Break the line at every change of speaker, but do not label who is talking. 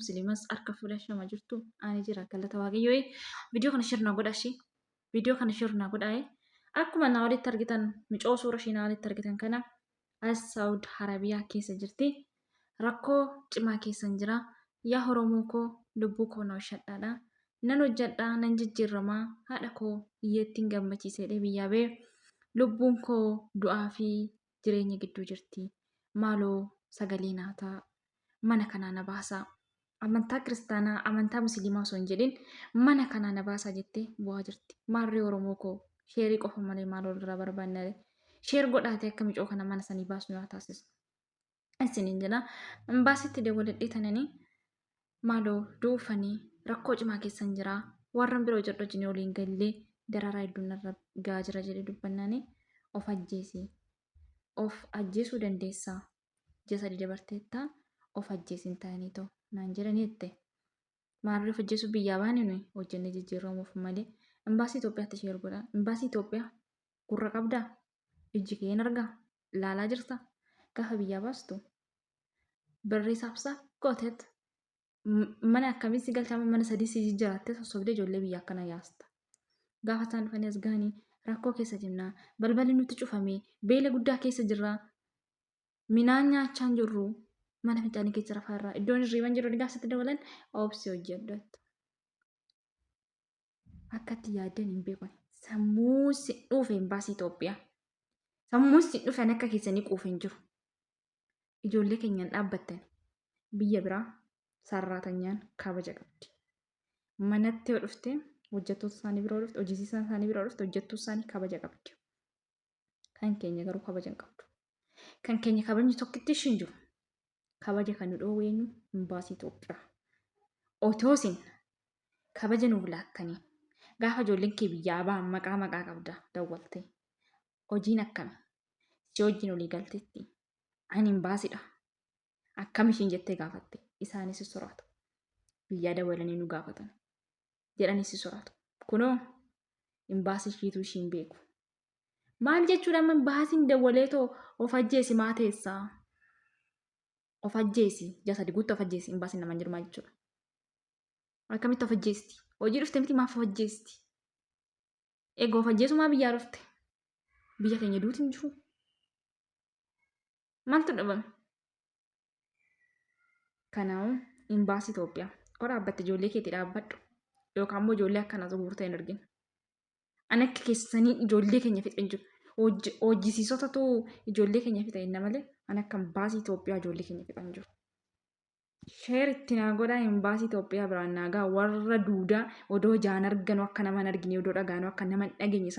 muslimas harka fuula shama jirtu ani jira galata waaqayyoo viidiyoo kana shirna godha ishee viidiyoo kana shirna godha akkuma naa walitti argitan micoo suura ishee naa walitti argitan kana as saawud harabiyaa keessa jirti rakkoo cimaa keessan jira yaa oromoo koo lubbuu koo na oshadhaadha nan hojjadhaa nan jijjiirramaa haadha koo hiyyeettiin gammachiisee dhee biyyaa bee lubbuun koo du'aa fi jireenya gidduu jirti maaloo sagalee naa ta'a mana kanaa na baasaa amantaa kiristaanaa amantaa musliimaa osoo hin jedhin mana kanaa na baasaa jettee bu'aa jirti maarree oromoo koo sheerii qofa malee maal walirraa barbaannare sheer godhaatee akka micoo kana mana sanii baasnu yaa taasisnu isiniin jedha imbaasitti dawwaladhee tananii maaloo duufanii rakkoo cimaa keessan jira warran bira hojjedhu wajjin waliin gallee dararaa hedduun irra gaa jira jedhee dubbannaanii of ajjeesi of ajjeesuu dandeessaa ji'a sadii dabarteetta of ajjeesin ta'anii ta'u naan jedhanii jette maarree of ajjeesuu biyyaa baane nuyi hojjennee jijjiiramuuf malee imbaasii Itoophiyaatti ishee erguudha imbaasii Itoophiyaa Gurra qabdaa? Ijji kee hin argaa? Laalaa jirta? Gaafa biyyaa baastu barreessaaf isaa gooteet mana akkamii si galchaama mana sadii si jijjiraattee sossobdee ijoollee biyya akkana yaasta. Gaafa isaan dhufanii as gahanii rakkoo keessa jirnaa balballi nutti cufamee beela guddaa keessa jirraa minaan nyaachaa hin jirru mana fincaanii keessa rafaa irraa iddoon hirriiban jiru dhigaa sitti dabalan obsi hojjedhu. Akkatti yaaddan hin beeku. Sammuu si dhuufe imbaasii Itoophiyaa. Sammuun si dhufan akka keessanii quufe hin jiru. Ijoollee keenyaan dhaabbattan biyya biraa sarraatanyaan kabaja qabdi. Manatti yoo dhufte hojjettoota isaanii bira yoo dhufte hojisiisaan isaanii bira yoo dhufte hojjettuu isaanii kabaja qabdi. Kan keenya garuu kabaja hin qabdu. Kan keenya kabajni tokkitti ishiin jiru. Kabaja kan nu dhoowwe eenyu? Imbaasii Itoophiyaa. Otoo isin kabaja nuuf laattanii gaafa ijoolleen kee biyyaa ba'an maqaa maqaa qabda dawwaltee. Hojiin akkami? Si wajjin olii galtetti. Ani imbaasidha. Akkam ishiin jettee gaafatte. Isaanis soraatu. Biyyaa dawwalanii nu gaafatan. jedhanii si soraatu. Kunoo imbaasii ishiitu ishiin beeku. Maal jechuudha amma imbaasiin dawwalee too of ajjeesi maa teessaa? Of ajjeesi ji'a sadi guutti of ajjeesi imbaasiin naman jiru maal jechuudha? Akkamitti of ajjeesti? Hojii dhufte miti maaf of ajjeesti? Egaa of ajjeesuu maa biyyaa dhufte? Biyya keenya duuti hin jiru. Maaltu dhabame? Kanaa'u imbaasii Itoophiyaa yoo dhaabbatte ijoollee keetti dhaabbadhu yookaan immoo ijoollee akkana zuhuurta hin argin. Ani akka keessanii ijoollee keenya fixe hin jiru. Hojjisiisotatu ijoollee keenya fixe jenna malee ani akka imbaasii Itoophiyaa ijoollee keenya fixe hin jiru. Sheer itti naa godhaa imbaasii Itoophiyaa biraan naa ga'a warra duudaa odoo jaan arganu akka nama hin argine odoo dhagaanu akka nama hin dhageenye san